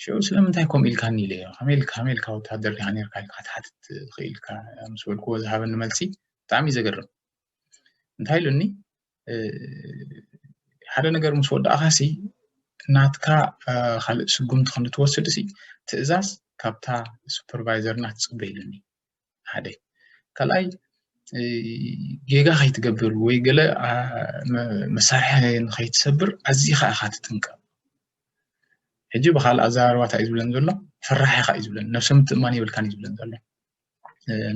ሽዑ ስለምንታይ ከምኡ ኢልካኒ ኢለ ከመይ ኢልካ ከመይ ኢልካ ወታደር ኢኻ ኔርካ ኢልካ ክትሓትት ትኽእል ኢልካ ምስ በልክዎ ዝሃበኒ መልሲ ብጣዕሚ እዩ ዘገርም እንታይ ኢሉኒ ሓደ ነገር ምስ ወዳእኻሲ ናትካ ካልእ ስጉምቲ ክንትወስድ ሲ ትእዛዝ ካብታ ሱፐርቫይዘርና ትፅበ ኢሉኒ ሓደ ካልኣይ ጌጋ ከይትገብር ወይ ገለ መሳርሒ ንከይትሰብር ኣዚኻ ኢኻ ትጥንቀቕ ሕጂ ብካልእ ኣዘራርባ እንታይ እዩ ዝብለን ዘሎ ፈራሕኻ እዩ ዝብለን ነብሰ ምትእማን የብልካን እዩ ዝብለን ዘሎ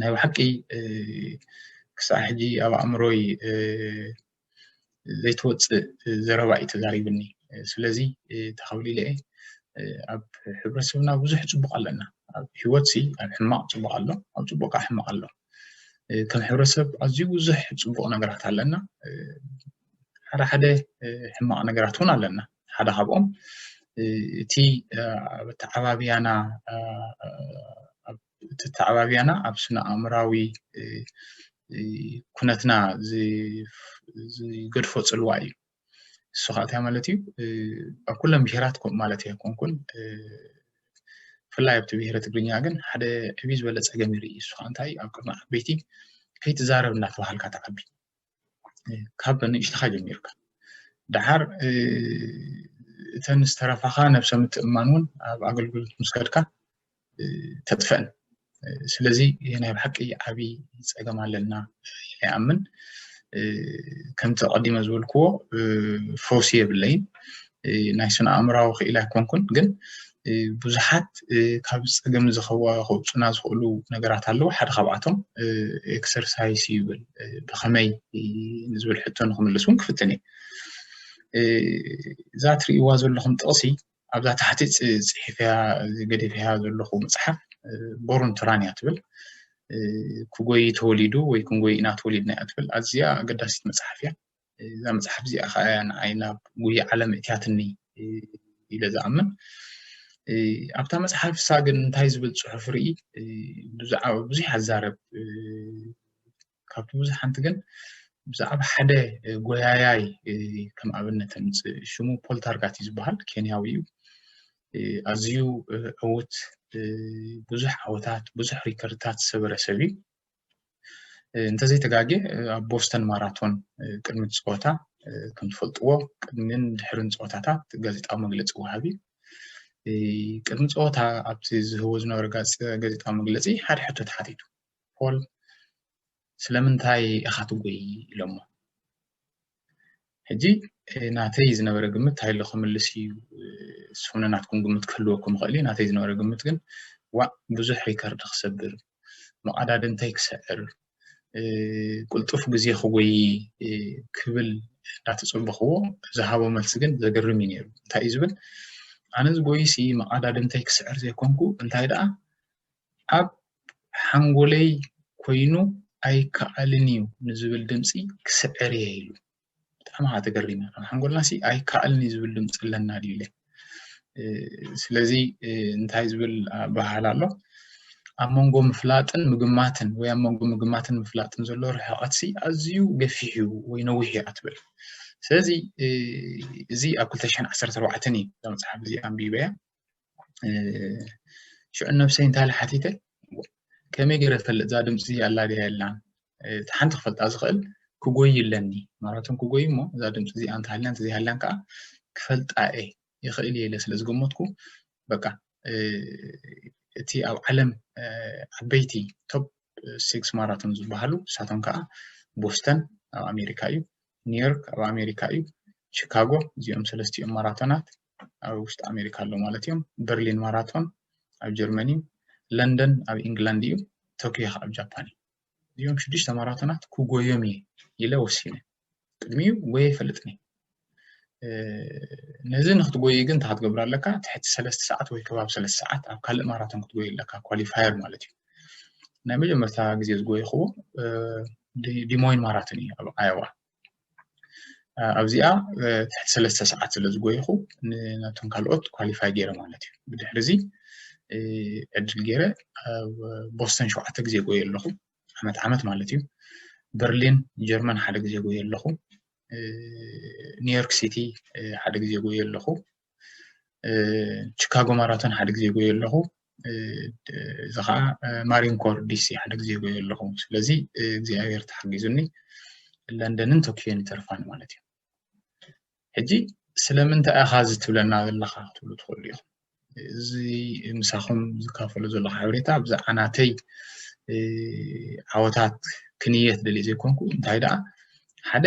ናይ ብሓቂ ክሳዕ ሕጂ ኣብ ኣእምሮይ ዘይትወፅእ ዘረባ እዩ ተዛሪብኒ ስለዚ ተኸብሉ ኢለ እየ ኣብ ሕብረተሰብና ብዙሕ ፅቡቅ ኣለና ኣብ ሂወት ሲ ኣብ ሕማቅ ፅቡቅ ኣሎ ኣብ ፅቡቅ ከዓ ሕማቅ ኣሎ ከም ሕብረተሰብ ኣዝዩ ብዙሕ ፅቡቅ ነገራት ኣለና ሓደ ሓደ ሕማቅ ነገራት እውን ኣለና ሓደ ካብኦም እቲ ኣብ ኣተዓባብያና ኣብ ተተዓባብያና ኣብ ስነ ኣእምራዊ ኩነትና ዝገድፎ ፅልዋ እዩ እሱ ከዓ እንታይ ማለት እዩ ኣብ ኩለን ብሄራት ከምኡ ማለት ኣይኮንኩን ብፍላይ ኣብቲ ብሄረ ትግርኛ ግን ሓደ ዕብይ ዝበለ ፀገም ይርኢ እሱ ከዓ እንታይ ኣብ ቅድሚ ዓበይቲ ከይትዛረብ እናተባሃልካ ትዓቢ ካብ ንእሽተኻ ጀሚርካ ደሓር እተን ዝተረፋኻ ነብሰ ምትእምማን እውን ኣብ ኣገልግሎት ምስ ከድካ ተጥፈን ስለዚ ናይ ብሓቂ ዓብዪ ፀገም ኣለና ይኣምን ከምቲ ቀዲመ ዝበልክዎ ፈውሲ የብለይን ናይ ስነ ኣእምራዊ ክኢላ ኣይኮንኩን ግን ብዙሓት ካብ ፀገም ዝኸዋ ከውፁና ዝኽእሉ ነገራት ኣለዉ ሓደ ካብኣቶም ኤክሰርሳይስ ይብል ብኸመይ ንዝብል ሕቶ ንክምልስ እውን ክፍትን እየ እዛ ትርእይዋ ዘለኹም ጥቕሲ ኣብዛ ታሕቲ ፅሒፍያ ገዲፍያ ዘለኹ መፅሓፍ ቦሩን ትራን እያ ትብል ክጎይ ተወሊዱ ወይ ክንጎይ ኢና ተወሊድና እያ ትብል ኣዝያ ኣገዳሲት መፅሓፍ እያ እዛ መፅሓፍ እዚኣ ከዓ እያ ንዓይ ናብ ጉያ ዓለም እትያትኒ ኢለ ዝኣምን ኣብታ መፅሓፍ እሳ ግን እንታይ ዝብል ፅሑፍ ርኢ ብዛዕባ ብዙሕ ኣዛረብ ካብቲ ብዙሕ ሓንቲ ግን ብዛዕባ ሓደ ጎያያይ ከም ኣብነት ምፅእ ሽሙ ፖልታርጋት እዩ ዝበሃል ኬንያዊ እዩ ኣዝዩ ዕውት ብዙሕ ዓወታት ብዙሕ ሪከርድታት ዝሰበረ ሰብ እዩ እንተዘይተጋጌ ኣብ ቦስተን ማራቶን ቅድሚ ፀወታ ከምትፈልጥዎ ቅድሚን ድሕርን ፀወታታት ጋዜጣዊ መግለፂ ወሃቢ ቅድሚ ፀወታ ኣብቲ ዝህቦ ዝነበረ ጋዜጣዊ መግለፂ ሓደ ሕቶ ተሓቲቱ ፖል ስለምንታይ ኢኻ ትጎይ ኢሎሞ ሕጂ ናተይ ዝነበረ ግምት እንታይ ኣሎ ክምልስ እዩ ዝኾነ ናትኩም ግምት ክህልወኩም ይኽእል እዩ ናተይ ዝነበረ ግምት ግን ዋእ ብዙሕ ሪከርድ ክሰብር መቐዳድምተይ ክስዕር ቅልጡፍ ግዜ ክጎይ ክብል እንዳተፀበኽዎ ዝሃቦ መልሲ ግን ዘገርም እዩ ነይሩ እንታይ እዩ ዝብል ኣነ ዝጎይሲ መቓዳድምተይ ክስዕር ዘይኮንኩ እንታይ ደኣ ኣብ ሓንጎለይ ኮይኑ ኣይከኣልን እዩ ንዝብል ድምፂ ክስዕር እየ ኢሉ። ብጣዕሚ ከዓ ተገሪመ ኣብ ሓንጎልና ሲ ኣይከኣልን እዩ ዝብል ድምፂ ኣለና ድዩ ኢለ ስለዚ እንታይ ዝብል ኣበሃህላ ኣሎ ኣብ መንጎ ምፍላጥን ምግማትን ወይ ኣብ መንጎ ምግማትን ምፍላጥን ዘሎ ርሕቐት ሲ ኣዝዩ ገፊሕ እዩ ወይ ነዊሕ እዩ ኣትብል ስለዚ እዚ ኣብ 214 እዩ እዛ መፅሓፍ እዚኣ ኣንቢበያ ሽዑ ነብሰይ እንታይ ኢለ ሓቲተ ከመይ ገይረ ክፈልጥ እዛ ድምፂ እዚኣ ኣላ ድያ የላን እቲ ሓንቲ ክፈልጣ ዝኽእል ክጎይ ኣለኒ ማራቶን ክጎይ እሞ እዛ ድምፂ እዚኣ እንተሃልያ እንተዘይሃልያን ከዓ ክፈልጣ እየ ይኽእል እየ ኢለ ስለ ዝገመትኩ በቃ እቲ ኣብ ዓለም ዓበይቲ ቶፕ ሲክስ ማራቶን ዝበሃሉ ንሳቶም ከዓ ቦስተን ኣብ ኣሜሪካ እዩ ኒውዮርክ ኣብ ኣሜሪካ እዩ ቺካጎ እዚኦም ሰለስቲኦም ማራቶናት ኣብ ውሽጢ ኣሜሪካ ኣሎ ማለት እዩ በርሊን ማራቶን ኣብ ጀርመን እዩ ለንደን ኣብ ኢንግላንድ እዩ ቶኪዮ ከዓ ኣብ ጃፓን እዩ እዚኦም ሽዱሽተ ማራቶናት ክጎዮም እየ ኢለ ወሲነ ቅድሚኡ ጎየ ይፈልጥኒ ነዚ ንክትጎይ ግን እንታይ ክትገብር ኣለካ ትሕቲ ሰለስተ ሰዓት ወይ ከባቢ ሰለስተ ሰዓት ኣብ ካልእ ማራቶን ክትጎይ ኣለካ ኳሊፋየር ማለት እዩ ናይ መጀመርታ ግዜ ዝጎየኽዎ ዲሞይን ማራቶን እዩ ኣብ ኣየዋ ኣብዚኣ ትሕቲ ሰለስተ ሰዓት ስለ ዝጎይኹ ናቶም ካልኦት ኳሊፋይ ገይረ ማለት እዩ ብድሕሪ እዚ ዕድል ገይረ ኣብ ቦስተን ሸውዓተ ግዜ ጎየ ኣለኹ ዓመት ዓመት ማለት እዩ በርሊን ጀርመን ሓደ ግዜ ጎየ ኣለኹ ኒውዮርክ ሲቲ ሓደ ግዜ ጎየ ኣለኹ ቺካጎ ማራቶን ሓደ ግዜ ጎየ ኣለኹ እዚ ከዓ ማሪንኮር ዲሲ ሓደ ግዜ ጎየ ኣለኹ ስለዚ እግዚኣብሔር ተሓጊዙኒ ለንደንን ቶኪዮን ይተርፋኒ ማለት እዩ ሕጂ ስለምንታይ ኢኻ እዚ ትብለና ዘለኻ ክትብሉ ትኽእሉ ኢኹም እዚ ምሳኹም ዝካፈሉ ዘለኹ ሓበሬታ ብዛዕባ ናተይ ዓወታት ክንየት ደልየ ዘይኮንኩ እንታይ ደኣ ሓደ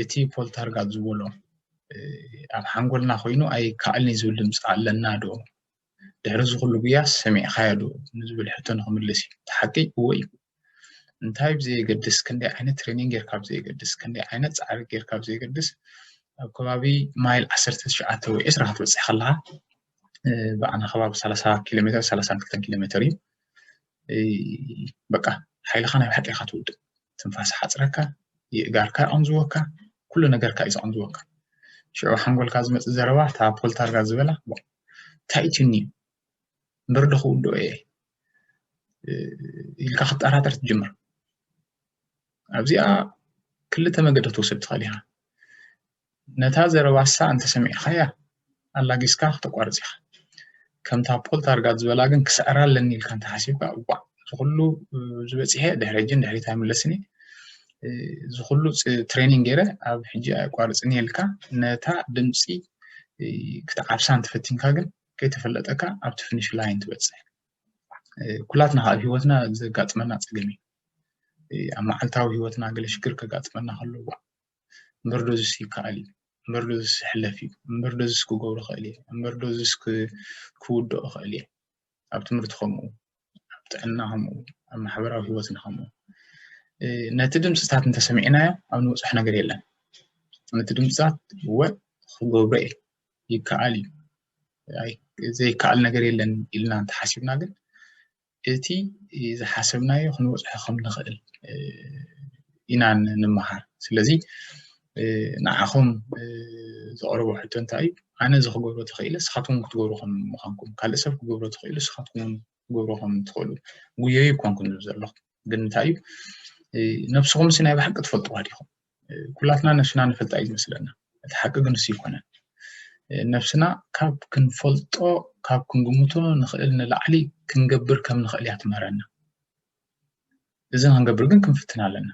እቲ ፖል ታርጋት ዝበሎ ኣብ ሓንጎልና ኮይኑ ኣይከኣልኒ ዝብል ድምፂ ኣለና ዶ ድሕሪ እዚ ኩሉ ጉያ ሰሚዕካዮ ዶ ንዝብል ሕቶ ንክምልስ እዩ እቲ ሓቂ እወ እዩ እንታይ ብዘየገድስ ክንደይ ዓይነት ትሬኒንግ ጌርካ ብዘየገድስ ክንደይ ዓይነት ፃዕሪ ጌርካ ብዘየገድስ ኣብ ከባቢ ማይል ዓሰርተ ትሽዓተ ወይ ዕስራ ክትበፅሕ ከለካ ብኣና ከባቢ ሰላሳ ኪሎ ሜትር ሰላሳን ክልተን ኪሎ ሜትር እዩ በቃ ሓይልካ ናይ ብሓቂ ኢካ ትውድእ ትንፋስ ይሓጽረካ፣ የእጋርካ ይቐንዝወካ፣ ኩሉ ነገርካ እዩ ዝቐንዝወካ። ሽዑ ኣብ ሓንጎልካ ዝመጽእ ዘረባ እታ ፖልታርጋ ዝበላ ዋእ እንታይ እዩ ትኒ እምበር ዶ ክውድኦ እየ ኢልካ ክትጠራጠር ትጅምር። ኣብዚኣ ክልተ መገዲ ክትወስድ ትኽእል ኢኻ። ነታ ዘረባሳ እንተ ሰሚዕካያ ኣላጊስካ ክተቋርጽ ኢኻ ከምታ ፖል ታርጋት ዝበላ ግን ክስዕራ ኣለኒ ኢልካ እንተ ሓሲብካ እዋእ እዚ ኩሉ ዝበጽሔ ድሕሪ ሕጂ ንድሕሪት ኣይምለስን እየ እዚ ኩሉ ትሬኒንግ ገይረ ኣብ ሕጂ ኣየቋርጽን እየ ኢልካ ነታ ድምጺ ክትዓብሳ እንተፈቲንካ ግን ከይተፈለጠካ ኣብቲ ፍኒሽ ላይን ትበጽሕ ኩላትና ኣብ ሂወትና ዘጋጥመና ጸገም እዩ ኣብ መዓልታዊ ሂወትና ገለ ሽግር ከጋጥመና ከሎ እዋእ እምበር ዶዝስ ይከኣል እዩ እምበር ዶዝስ ይሕለፍ እዩ እምበር ዶዝስ ክገብሮ ክእል እየ እምበር ዶዝስ ክውድኦ ክእል እየ ኣብ ትምህርቲ ከምኡ ኣብ ጥዕና ከምኡ ኣብ ማሕበራዊ ሂወትና ከምኡ ነቲ ድምፅታት እንተሰሚዕናዮ ኣብ ንብፅሕ ነገር የለን ነቲ ድምፅታት እወ ክገብሮ እየ ይከኣል እዩ ዘይከኣል ነገር የለን ኢልና እንተሓሲብና ግን እቲ ዝሓሰብናዮ ክንበፅሖ ከም ንኽእል ኢና ንምሃር ስለዚ ንዓኹም ዘቕርቦ ሕቶ እንታይ እዩ ኣነ እዚ ክገብሮ ተኽኢለ ንስኻትኩም ክትገብሩ ከም ምዃንኩም ካልእ ሰብ ክገብሮ ተኽኢሉ ንስኻትኩም ክገብሩ ከም ትኽእሉ ጉየዩ ኮንኩም ዘለኹም ግን እንታይ እዩ ነብስኹምሲ ናይ ብሓቂ ትፈልጥዋ ዲኹም ኩላትና ነሽና ንፈልጣ እዩ ዝመስለና እቲ ሓቂ ግን እሱ ይኮነን ነብስና ካብ ክንፈልጦ ካብ ክንግምቶ ንኽእል ንላዕሊ ክንገብር ከም ንኽእል እያ ትምህረና እዚ ክንገብር ግን ክንፍትን ኣለና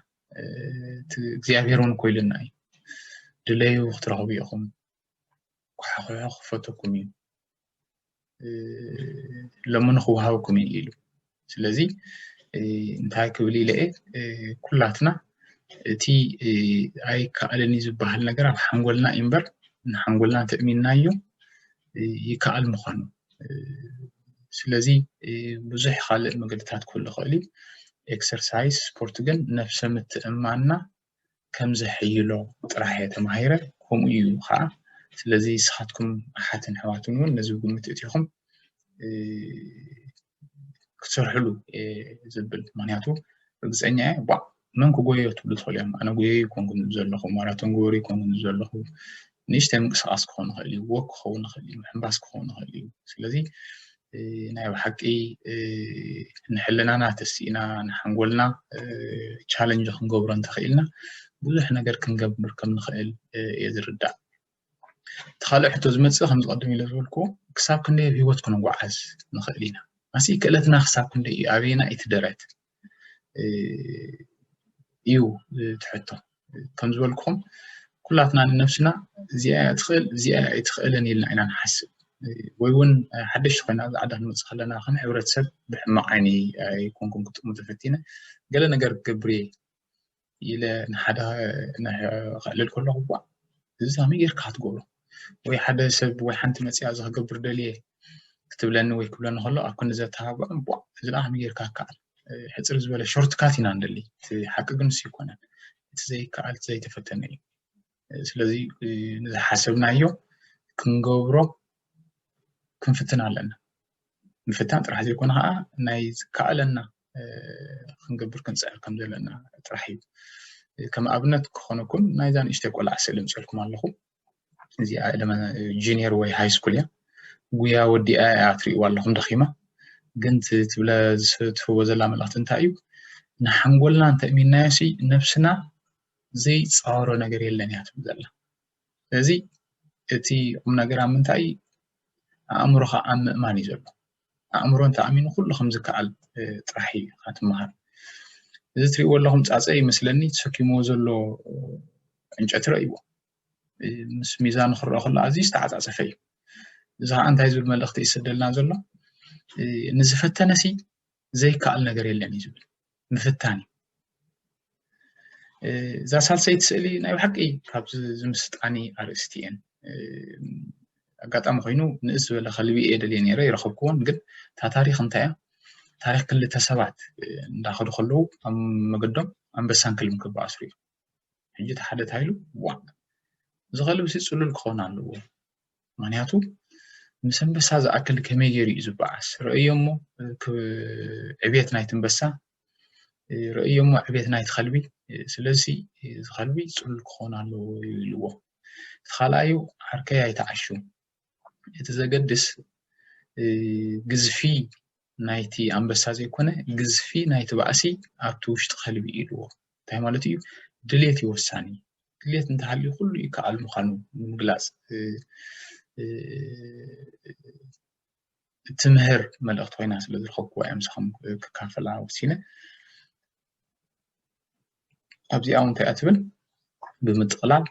እቲ እግዚኣብሄር እውን ኮይልና እዩ ድለዩ ክትረኽቡ ኢኹም ኩሓኹሑ ክፈተኩም እዩ ሎሚ ንክወሃብኩም እዩ ኢሉ ስለዚ እንታይ ክብል ኢለ እየ ኩላትና እቲ ኣይከኣልን እዩ ዝበሃል ነገር ኣብ ሓንጎልና እዩ እምበር ንሓንጎልና ተእሚንናዮ ይከኣል ምዃኑ ስለዚ ብዙሕ ካልእ መገድታት ክህሉ ይኽእል እዩ ኤክሰርሳይዝ ስፖርት ግን ነፍሰ ምትእማንና ከም ዘሐይሎ ጥራሕ እየ ተማሂረ ከምኡ እዩ ኸኣ ስለዚ ንስኻትኩም ኣሓትን ኣሕዋትን እውን ነዚ ግምት እቲኹም ክትሰርሕሉ ዝብል ምክንያቱ ርግፀኛ እየ ቧዕ መን ክጎዮ ትብሉ ትኽእሉ እዮም ኣነ ጎየዩ ኮንኩም ዘለኹ ማራቶን ግበሩ ኮንኩም ዘለኹ ንእሽተይ ምንቅስቃስ ክኸውን ይኽእል እዩ ወክ ክኸውን ይኽእል እዩ ምሕንባስ ክኸውን ይኽእል እዩ ስለዚ ናይ ብሓቂ ንሕልናና ተሲእና ንሓንጎልና ቻለንጅ ክንገብሮ እንተኽኢልና ብዙሕ ነገር ክንገብር ከም ንኽእል እየ ዝርዳእ እቲ ካልእ ሕቶ ዝመፅእ ከም ዝቐድም ኢለ ዝበልኩ ክሳብ ክንደይ ኣብ ሂወት ክንጓዓዝ ንኽእል ኢና ኣሲ ክእለትና ክሳብ ክንደይ እዩ ኣበየና እቲ ደረት እዩ እቲ ሕቶ ከም ዝበልኩኹም ኩላትና ንነብስና እዚኣ እያ ትኽእል እዚኣ እያ ኣይትኽእልን ኢልና ኢና ንሓስብ ወይ እውን ሓደሽቲ ኮይና ኣብዚ ዓዲ ክንመፅእ ከለና ከም ሕብረተሰብ ብሕማቕ ዓይኒ ኣይኮንኩን ክጥሙ ተፈቲነ ገለ ነገር ክገብር እየ ኢለ ንሓደ ክዕልል ከለኹ እኳ እዚ ከመይ ጌርካ ክትገብሮ ወይ ሓደ ሰብ ወይ ሓንቲ መፂኣ እዚ ክገብር ደልየ ክትብለኒ ወይ ክብለኒ ከሎ ኣብ ክንዲ ዘተባብዖ እባ እዚ ደኣ ከመይ ጌርካ ይከኣል ሕፅር ዝበለ ሾርትካት ኢና ንደሊ እቲ ሓቂ ግን ንሱ ኣይኮነን እቲ ዘይከኣል እቲ ዘይተፈተነ እዩ ስለዚ ንዝሓሰብናዮ ክንገብሮ ክንፍትን ኣለና ምፍታን ጥራሕ ዘይኮነ ከዓ ናይ ዝከኣለና ክንገብር ክንፅዕር ከም ዘለና ጥራሕ እዩ ከም ኣብነት ክኾነኩም ናይዛ ንእሽተይ ቆልዓ ስእሊ ምፅልኩም ኣለኹ እዚኣ ጁኒየር ወይ ሃይ ስኩል እያ ጉያ ወዲኣ እያ ትሪእዋ ኣለኹም ደኺማ ግን ትብለ ዝትህቦ ዘላ መልእኽቲ እንታይ እዩ ንሓንጎልና እንተእሚናዮሲ ነብስና ዘይፃወሮ ነገር የለን እያ ትብል ዘላ ስለዚ እቲ ቁም ነገር ኣብ ምንታይ እዩ ኣእምሮኻ ኣብ ምእማን እዩ ዘሎ ኣእምሮ እንተኣሚኑ ኩሉ ከም ዝከኣል ጥራሕ እዩ ኢኻ ትምሃር እዚ እትሪእዎ ኣለኹም ፃፀ ይመስለኒ ተሰኪምዎ ዘሎ ዕንጨቲ ረእይዎ ምስ ሚዛኑ ክረአ ከሎ ኣዝዩ ዝተዓፃፀፈ እዩ እዚ ከዓ እንታይ ዝብል መልእኽቲ ይስደልና ዘሎ ንዝፈተነሲ ዘይከኣል ነገር የለን እዩ ዝብል ምፍታን እዩ እዛ ሳልሰይቲ ስእሊ ናይ ብሓቂ ካብ ዝምስጣኒ ኣርእስቲ እየን ኣጋጣሚ ኮይኑ ንእስ ዝበለ ከልቢ እየ ደልየ ነይረ ይረኸብክዎን ግን እታ ታሪክ እንታይ እያ ታሪክ ክልተ ሰባት እንዳኸዱ ከለዉ ኣብ መገዶም ኣንበሳን ክልም ክበኣስሩ እዩ ሕጂ እቲ ሓደ እንታይ ኢሉ ዋእ እዚ ከልብሲ ጽሉል ክኾን ኣለዎ ምክንያቱ ምስ ኣንበሳ ዝኣክል ከመይ ገይሩ እዩ ዝበዓስ ረእዮ እሞ ዕብየት ናይቲ ኣንበሳ ረእዮ እሞ ዕብየት ናይቲ ከልቢ ስለዚ እዚ ከልቢ ጽሉል ክኾን ኣለዎ ኢልዎ እቲ ካልኣዩ ዓርከይ ኣይተዓሹ እቲ ዘገድስ ግዝፊ ናይቲ ኣንበሳ ዘይኮነ ግዝፊ ናይቲ ባእሲ ኣብቲ ውሽጢ ከልቢ እዩ ኢልዎ። እንታይ ማለቱ እዩ? ድሌት እዩ ወሳኒ። ድሌት እንተሃልዩ ኩሉ ይከኣል ምዃኑ ንምግላጽ እትምህር መልእኽቲ ኮይና ስለ ዝረኸብኩዋ እዮም ምሳኹም ክካፈላ ወሲነ። ኣብዚኣ እውን እንታይ እያ ትብል ብምጥቕላል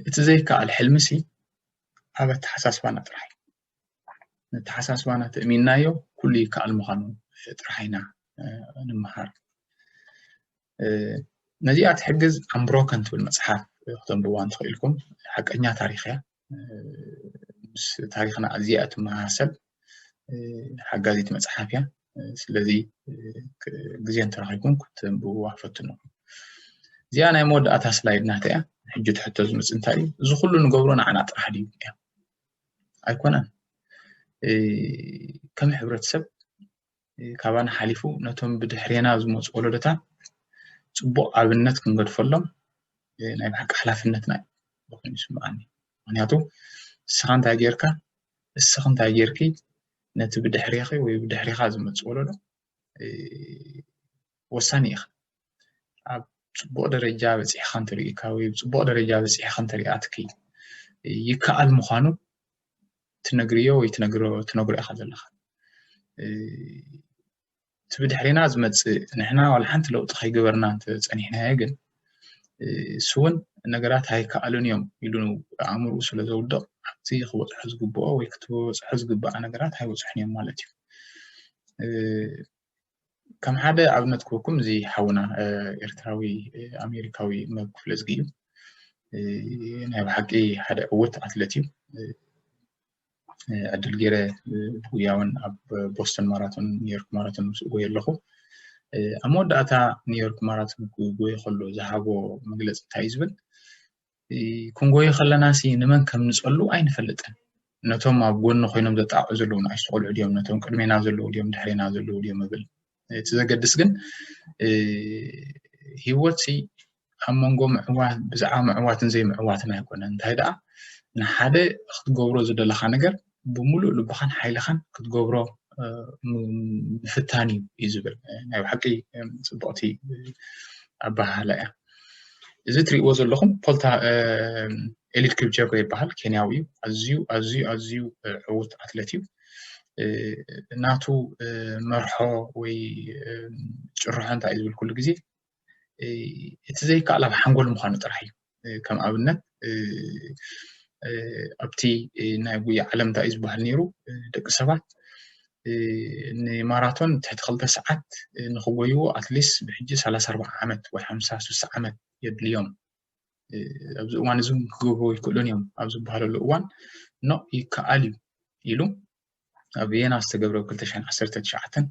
እቲ ዘይከኣል ሕልሚሲ ኣብ ኣተሓሳስባና ጥራሕ ነተሓሳስባና ተእሚንናዮ ኩሉ ይከኣል ምዃኑ ጥራሕ ኢና ንምሃር ነዚኣ ትሕግዝ ኣምብሮከን ትብል መፅሓፍ ክተንብዋ እንትኽእልኩም ሓቀኛ ታሪክ እያ ምስ ታሪክና ኣዝያ እትመሳሰል ሓጋዚት መፅሓፍ እያ ስለዚ ግዜ እንተረኺብኩም ክትንብብዋ ፈትኑ እዚኣ ናይ መወዳእታ ስላይድ ናተ እያ ሕጂ ትሕቶ ዝምፅ እንታይ እዩ እዚ ኩሉ ንገብሮ ንዓና ጥራሕ ድዩ እያ ኣይኮነን ከም ሕብረተሰብ ካባና ሓሊፉ ነቶም ብድሕሬና ዝመፁ ወለዶታት ፅቡቅ ኣብነት ክንገድፈሎም ናይ ብሓቂ ሓላፍነትና እዩ ኮይኑ ይስምዓኒ ምክንያቱ ንስኻ እንታይ ጌርካ ንስኺ እንታይ ጌርኪ ነቲ ብድሕሬኺ ወይ ብድሕሬኻ ዝመፅእ ወለዶ ወሳኒ ኢኻ ኣብ ፅቡቅ ደረጃ በፂሕካ እንተሪኢካ ወይ ኣብ ፅቡቅ ደረጃ በፂሕካ እንተሪኣትኪ ይከኣል ምኳኑ ትነግርዮ ወይ ትነግርዮ ኢካ ዘለካ እቲ ብድሕሪና ዝመፅእ ንሕና ዋላ ሓንቲ ለውጢ ከይገበርና እንተፀኒሕናዮ ግን እሱ እውን ነገራት ኣይከኣሉን እዮም ኢሉ ኣእምርኡ ስለ ዘውድቕ ኣብቲ ክበፅሖ ዝግብኦ ወይ ክትበፅሖ ዝግባኣ ነገራት ኣይበፅሑን እዮም ማለት እዩ ከም ሓደ ኣብነት ክህበኩም እዚ ሓውና ኤርትራዊ ኣሜሪካዊ መብ ክፍለ ዝጊ እዩ ናይ ብሓቂ ሓደ ዕውት ኣትለት እዩ ዕድል ገይረ ብጉያውን ኣብ ቦስተን ማራቶን ኒውዮርክ ማራቶን ምስ ጎየ ኣለኹ ኣብ መወዳእታ ኒውዮርክ ማራቶን ክጎየ ከሎ ዝሃቦ መግለፂ እንታይ እዩ ዝብል ክንጎዩ ከለናሲ ንመን ከም ንጸሉ ኣይንፈልጥን። ነቶም ኣብ ጎኒ ኮይኖም ዘጣቕዑ ዘለዉ ንኣሽቱ ቆልዑ ድዮም ነቶም ቅድሜና ዘለዉ ድዮም ድሕሬና ዘለዉ ድዮም እብል እቲ ዘገድስ ግን ሂወት ሲ ኣብ መንጎ ምዕዋት ብዛዕባ ምዕዋትን ዘይምዕዋትን ኣይኮነን እንታይ ደኣ ንሓደ ክትገብሮ ዝደለካ ነገር ብምሉእ ልብኻን ሓይልኻን ክትገብሮ ምፍታን እዩ ዝብል ናይ ብሓቂ ፅቡቕቲ ኣበሃህላ እያ እዚ እትሪእዎ ዘለኹም ፖልታ ኤሊድ ክብጀጎ ይበሃል ኬንያዊ እዩ ኣዝዩ ኣዝዩ ኣዝዩ ዕውት ኣትለት እዩ ናቱ መርሖ ወይ ጭርሖ እንታይ እዩ ዝብል ኩሉ ግዜ እቲ ዘይከኣል ኣብ ሓንጎል ምዃኑ ጥራሕ እዩ ከም ኣብነት ኣብቲ ናይ ጉያ ዓለም እንታይ እዩ ዝበሃል ነይሩ ደቂ ሰባት ንማራቶን ትሕቲ ክልተ ሰዓት ንክጎይዎ ኣትሊስ ብሕጂ ሰላሳ ኣርባዓ ዓመት ወይ ሓምሳ ስሳ ዓመት የድልዮም ኣብዚ እዋን እዚ ክገብርዎ ይክእሉን እዮም ኣብ ዝበሃለሉ እዋን ኖ ይከኣል እዩ ኢሉ ኣብ ቪየና ዝተገብረ ብ 2019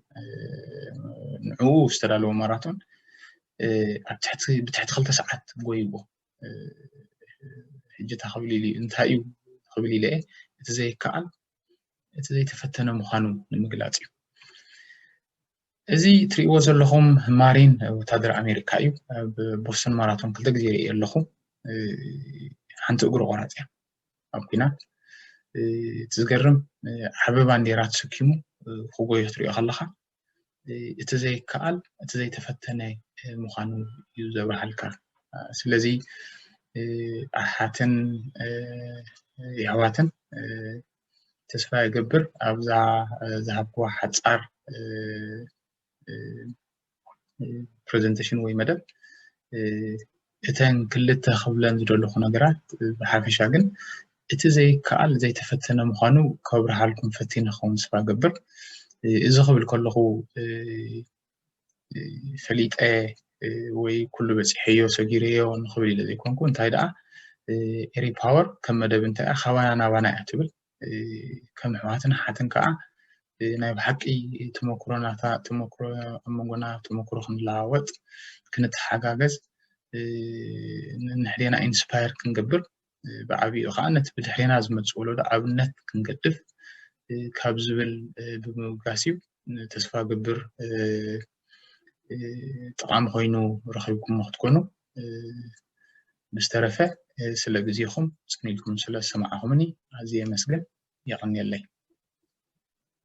ንዕኡ ዝተዳለወ ማራቶን ብትሕቲ ክልተ ሰዓት ጎይዎ ሕጂ እታ ክብል ኢሉ እንታይ እዩ ክብል ኢለ እቲ ዘይከኣል እቲ ዘይተፈተነ ምዃኑ ንምግላፅ እዩ እዚ እትሪእዎ ዘለኹም ማሪን ወታደር ኣሜሪካ እዩ። ኣብ ቦስተን ማራቶን ክልተ ግዜ ርእየ ኣለኹ። ሓንቲ እግሩ ቆራፅ እያ ኣብ ኩናት። እቲ ዝገርም ዓቢ ባንዴራ ተሰኪሙ ክጎዮ ክትሪኦ ከለኻ እቲ ዘይከኣል እቲ ዘይተፈተነ ምዃኑ እዩ ዘብርሃልካ። ስለዚ ኣሓትን የሕዋትን ተስፋ እገብር ኣብዛ ዝሃብክዋ ሓጻር ፕረዘንተሽን ወይ መደብ እተን ክልተ ክብለን ዝደለኹ ነገራት ብሓፈሻ ግን እቲ ዘይከኣል ዘይተፈተነ ምዃኑ ከብርሃልኩም ፈቲነ ክኸውን ስፋ ገብር እዚ ክብል ከለኹ ፈሊጠ ወይ ኩሉ በፂሐዮ ሰጊረዮ ንክብል ኢለ ዘይኮንኩ እንታይ ደኣ ኤሪ ፓወር ከም መደብ እንታይ እያ ካባና ናባና እያ ትብል ከም ኣሕዋትን ሓትን ከዓ ናይ ብሓቂ ተመክሮናታ ተመክሮ ኣብ መንጎና ተመክሮ ክንለዋወጥ ክንተሓጋገዝ ንሕዴና ኢንስፓየር ክንገብር ብዓብይኡ ከዓ ነቲ ብድሕሬና ዝመፅ ወለዶ ኣብነት ክንገድፍ ካብ ዝብል ብምብጋስ እዩ ተስፋ ገብር ጠቓሚ ኮይኑ ረኺብኩሞ ክትኮኑ ምስ ተረፈ ስለ ግዜኹም ፅን ኢልኩም ስለ ዝሰማዕኹምኒ ኣዝየ የመስግን የቐንየለይ